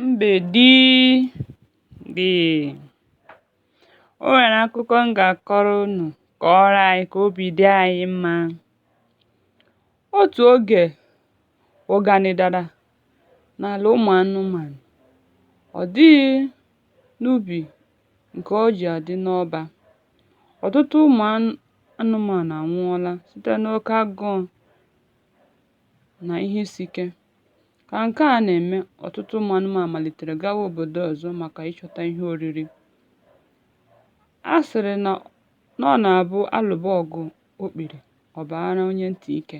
mgbèdi dị o nwèrè akụkọ m gà-àkọrọ unù kọọrọ anyị kà obì dị anyị mmȧ otù ogè ụganị dara n'àlà ụmụ̀ anụmànụ̀ ọ̀ dịghị n'ubì ǹkè o jì àdị n'ọbȧ ọ̀tụtụ ụmụ̀ anụmànụ̀ ànwụọla site n'oke agụụ̇ nà ihe isi ike Ka nke a na-eme, ọtụtụ ụmụ anụmanụ malitere gawa obodo ọzọ maka ịchọta ihe oriri. A sịrị na ọ na-abụ a lụba ọgụ okpiri, ọ baara onye ntị ike.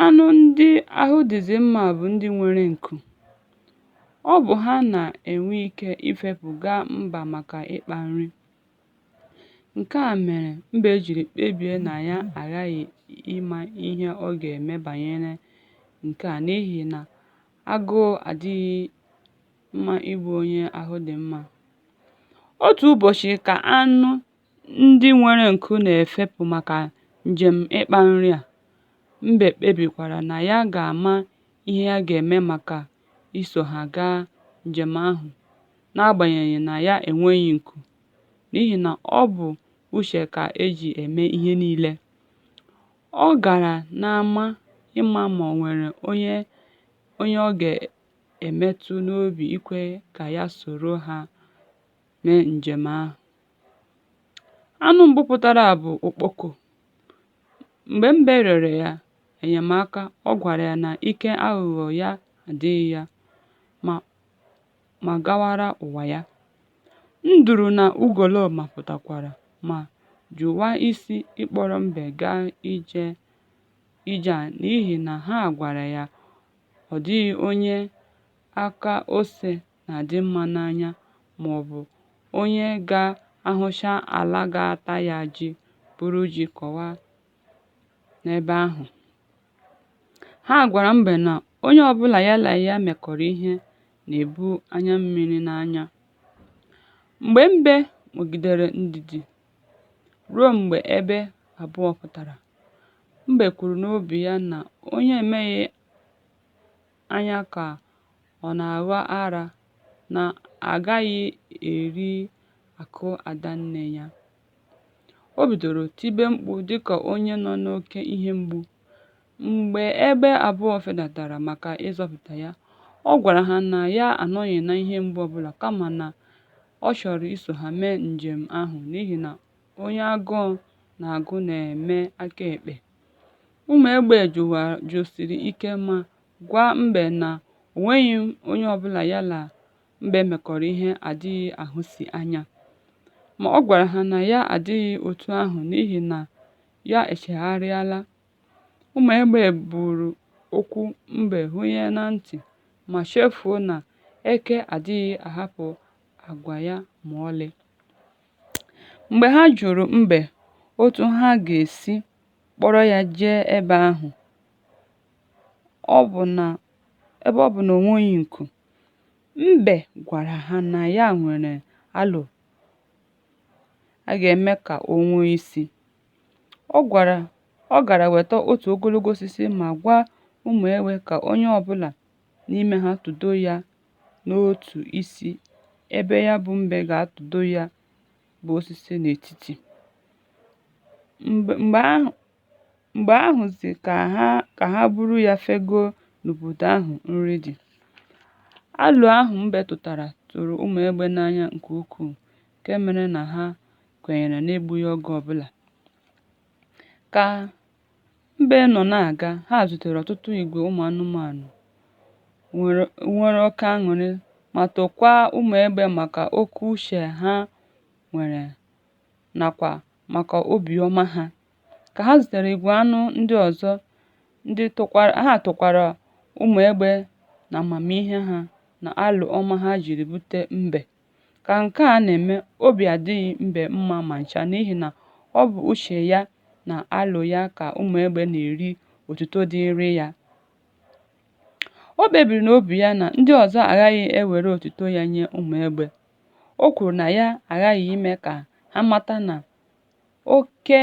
Anụ ndị ahụ dịzị mma bụ ndị nwere nku. Ọ bụ ha na-enwe ike ifepụ gaa mba maka ịkpa nri. Nke a mere mbe jiri kpebie na ya aghaghị ịma ihe ọ ga-eme banyere nke a n'ihi na agụụ adịghị mma igbu onye ahụ dị mma. Otu ụbọchị ka anụ ndị nwere nku na-efepụ maka njem ịkpa nri a, mbe kpebikwara na ya ga-ama ihe ya ga-eme maka iso ha gaa njem ahụ n'agbanyeghị na ya enweghị nku n'ihi na ọ bụ uche ka e ji eme ihe niile. Ọ gara n'ama ịma ma o nwere onye ọ ga-emetụ n'obi ikwe ka ya soro ha mee njem ahụ. Anụ mbụ pụtara bụ okpoko. Mgbe Mbe rịọrọ ya enyemaka, ọ gwara ya na ike aghụghọ ya adịghị ya ma gawara ụwa ya. Nduru na ugoloọma pụtakwara ma jụwa isi ịkpọrọ Mbe gaa ije a n'ihi na ha gwara ya ọ dịghị onye aka ose na-adị mma n'anya maọbụ onye ga-ahụcha ala ga-ata ya ji buru ji kọwa n'ebe ahụ. Ha gwara Mbe na onye ọbụla ya na ya mekọrọ ihe na-ebu anya mmiri n'anya. Mgbe Mbe nwegidere ndidi ruo mgbe egbe abụọ pụtara, Mbe kwuru n'obi ya na onye emeghị anya ka ọ na-agha ara na agaghị eri akụ ada nne ya. O bidoro tibe mkpu dịka onye nọ n'oke ihe mgbu. Mgbe egbe abụọ fedatara maka ịzọpụta ya, ọ gwara ha na ya anọghị na ihe mgbu ọbụla kama na ọ chọrọ iso ha mee njem ahụ n'ihi na onye agụụ na-agụ na-eme aka ekpe. Ụmụ egbe jụsiri ike ma gwa mbe na o nweghị onye ọbụla ya na mbe mekọrọ ihe adịghị ahụsi anya. Ma ọ gwara ha na ya adịghị otu ahụ n'ihi na ya echegharịala. Ụmụ egbe buru okwu mbe hunye na ntị ma chefuo na eke adịghị ahapụ agwa ya ma ọlị. Mgbe ha jụrụ mbe otu ha ga-esi kpọrọ ya jee ebe ahụ ebe ọ bụ na o nweghị nku. Mbe gwara ha na ya nwere alo a ga-eme ka o nwee isi. Ọ gara weta otu ogologo osisi ma gwa ụmụ egbe ka onye ọbụla n'ime ha tụdo ya n'otu isi ebe ya bụ mbe ga-atụdo ya bụ osisi n'etiti. Mgbe ahụzi ka ha buru ya fegoo n'obodo ahụ nri dị. Alo ahụ mbe tụtara tụrụ ụmụ egbe n'anya nke ukwuu nke mere na ha kwenyere n'egbughị oge ọbụla. Ka Mbe nọ na-aga, ha zutere ọtụtụ igwe ụmụ anụmanụ nwere oke aṅụrị ma tokwaa ụmụ egbe maka oke uche ha nwere nakwa maka obi ọma ha. Ka ha zutere igwe anụ ndị ọzọ, ha tokwara ụmụ egbe na amamihe ha na alo ọma ha jiri bute mbe. Ka nke a na-eme, obi adịghị mbe mma ma ncha n'ihi na ọ bụ uche ya na alo ya ka ụmụ egbe na-eri otuto dịịrị ya. O kpebiri n'obi ya na ndị ọzọ agaghị ewere otuto ya nye ụmụ egbe. O kwuru na ya aghaghị ime ka ha mata na oke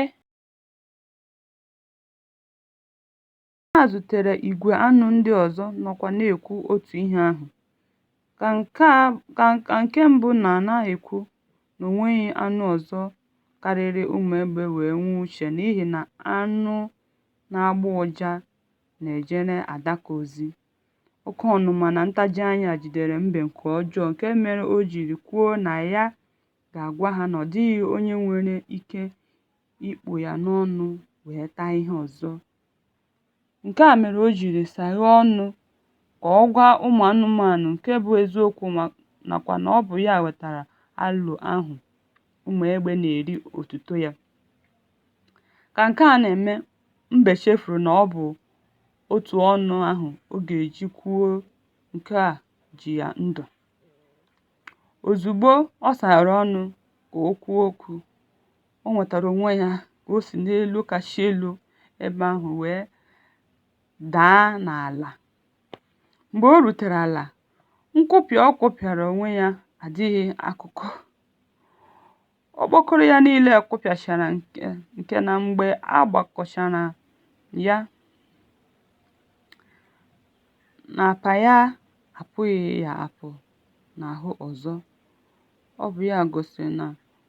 Ha zutere igwe anụ ndị ọzọ nọkwa na-ekwu otu ihe ahụ, ka nke mbụ nọ na-ekwu na o nweghị anụ ọzọ karịrị ụmụ egbe wee nwee uche n'ihi na anụ na-agbọ ụja na-ejere adaka ozi. Oke ọnụma na ntaji anya jidere mbe nke ọjọọ nke mere o jiri kwuo na ya ga-agwa ha na ọ dịghị onye nwere ike ikpụ ya n'ọnụ wee taa ihe ọzọ. Nke a mere o jiri saghee ọnụ ka ọ gwa ụmụ anụmanụ nke bụ eziokwu nakwa na ọ bụ ya wetara alo ahụ ụmụ egbe na-eri otuto ya. Ka nke a na-eme, mbe chefuru na ọ bụ otu ọnụ ahụ ọ ga-eji kwuo nke a ji ya ndụ. Ozugbo ọ saghere ọnụ ka o kwuo okwu, O nwetara onwe ya ka o si n'elu kasị elu ebe ahụ wee daa n'ala. Mgbe o rutere ala, nkụpịa ọ kụpịara onwe ya adịghị akụkọ. Okpokoro ya niile kụpịachara nke na mgbe a gbakọchara ya na apa ya apụghị ya apụ n'ahụ ọzọ. Ọ bụ ya gosiri na